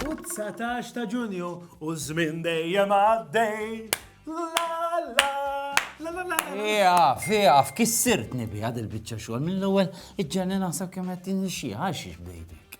U t-dsatax ta' Ġunju u ż-żmien dejjem għaddej. Ieqaf, ieqaf, kissirtni biha dil-biċċa xogħol mill-ewwel iġġenni naħseb kemm qed tinixxiha għax xiex bdejtek.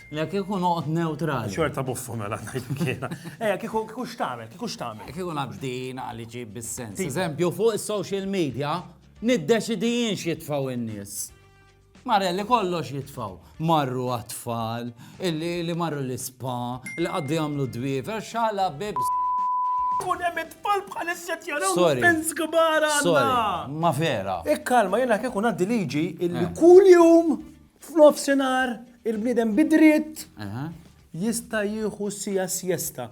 Le kieku noqgħod neutrali. Xorta buffu mela ngħidlek jiena. Ejja kieku kieku x'tagħmel, kieku x'tagħmel. Kieku ngħaddin għal iġib bis-sens. Eżempju fuq is-social media niddeċidi jien x'jitfgħu n-nies. Marelli kollox jitfgħu. Marru għat-tfal, li marru l-ispa, li qaddu jagħmlu dwiefer, xala bibs. Kun hemm it-tfal bħal isset jaraw Sorry. pens kbar Sorry, għandna. ma vera. Ikkalma jiena kieku ngħaddi liġi illi kuljum F'nofsinhar il-bniedem bi dritt jista' jieħu siegħa sjesta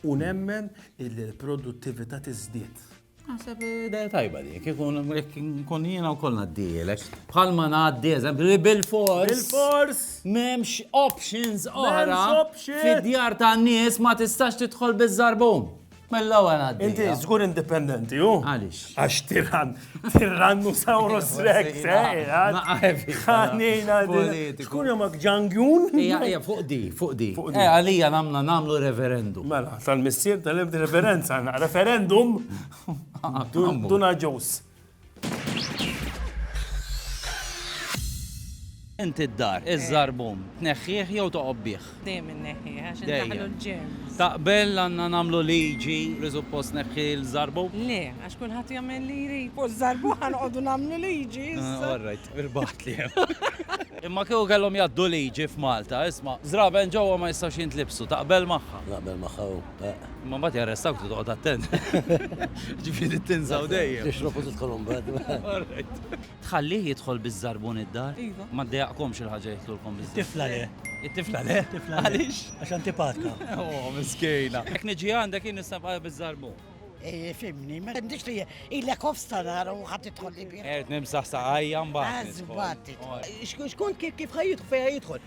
u nemmen illi l-produttività tiżdied. Naħseb idea tajba dik, ikun nkun jiena wkoll ngħaddielek. Bħalma ngħaddi eżempju li bil-fors. Bil-fors! M'hemmx options oħra. M'hemmx options! Fid-djar tan-nies ma tistax tidħol biż-żarbun. Mill-ewwel għaddi. Inti żgur indipendenti hu? Għaliex? Għax tiran, tirannu sawru srek, Ħanina politiku. Xkun jomak ġangjun? Ija, ija, fuq di, fuq di. Eh, għalija namna namlu referendum. Mela, tal-missier tal-ebdi referenza, referendum. Duna ġus. Inti d-dar, iż-żarbum, tneħħih jew toqgħod bih? Dejjem inneħħih għax indaħħlu l-ġerms. Taqbel għandna nagħmlu liġi li suppost tneħħi l-żarbum? Le, għax kulħadd jagħmel li jrid. Fuq iż-żarbum ħa noqogħdu nagħmlu liġi issa. All right, irbagħtli hemm. Imma kieku kellhom jgħaddu liġi f'Malta, isma', żraben ġewwa ma jistgħux jintlibsu, taqbel magħha? Naqbel magħha, Ma mbagħad jarrestawk toqgħod attent. Ġifieri tinżaw dejjem. Tixrob u tidħol imbagħad. Tħallih jidħol biż-żarbun id-dar? Iva. Ma ddejaqkomx il-ħaġa jidħlulkom biż-żarbun? It-tifla le. It-tifla le? It-tifla le. Għaliex? Għax antipatka. Oh, miskejna. Jekk niġi għandek jien nista' nibqa' biż-żarbun. Eh, fimni, ma għandix li ilek ofsta nara u ħadd idħol li bih. Qed nimsaħ saqajja mbagħad. Għażbad. Xkun kif ħajjidħol fejn ħajjidħol?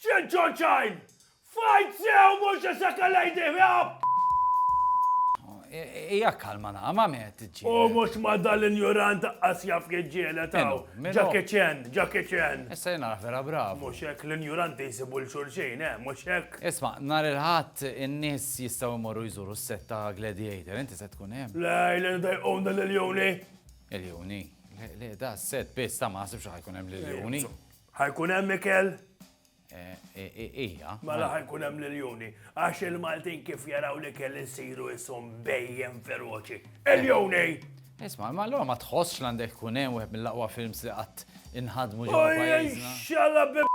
Ċinċo ċajn! Fajt sew mhux isek a lady hop! Hija kalma naqra, ma' min qed tiġġieled? U mhux ma' dal-injurant aqqas jaf jiġġieled hawn! Jackie Chan, Jackie Chan! Issa jien nagħraf vera bravu! Mhux hekk, l-injuranti jsibu 'l xulxin, eh, mhux hekk? Isma', nhar il-Ħadd in-nies jistgħu jmorru jżuru s-sett ta' Gladiator, inti se tkun hemm? Le, ilna nidajquna liljuni! Iljuni? Le, le, da' s-sett biss, ta' ma naħsibx li ħa jkun hemm liljuni. Ħajkun hemm ikel? Eh, eh, eh, ija. Mela ħajkun hemm l-iljuni. Għax il-Maltin kif jaraw li kell insiru jisom bejjem feroċi. Iljuni! Isma, ma l ma tħossx l-għandek kun hemm wieħed mill-aqwa films li qatt inħadmu ġewwa pajjiżna. Xalla b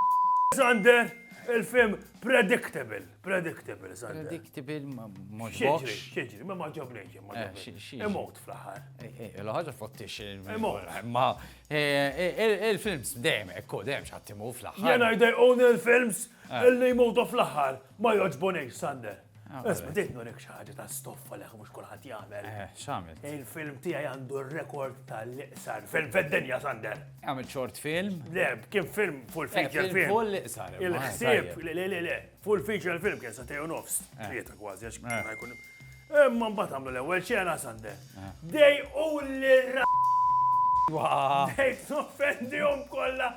Sander, il-film predictable, predictable, Sander. Predictable ma moġbox. Xieġri, ma maġobni ġem, ma Imot fl-ħar. L-ħagġa fottix. Imot. Ma Il-films dejjem hekk hu, dejjem xi ħadd imut fl-aħħar. Jien I they own il-films eh. illi jmutu fl-aħħar ma jogħġbunix Sander. Ah, Isma' tgħid nurik xi ħaġa ta' stoffa leħ mhux kulħadd jagħmel. Eh, x'għamel? Il-film tiegħi għandu r-rekord tal-iqsar film fid-dinja Sander. Għamel short film? Le, kien film full eh, feature film. Full iqsar. Il-ħsieb, le le le. Full feature film kien sa tejo nofs, eh. tlieta kważi, għax ma eh. jkun. Imma mbagħad għamlu l-ewwel ċena sande. Eh. Dej u l-ra. Dej toffendihom kollha.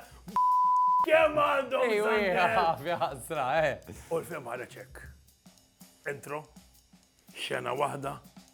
Kemm għandhom sande. U l-film ħareġ hekk. Intro, xena waħda,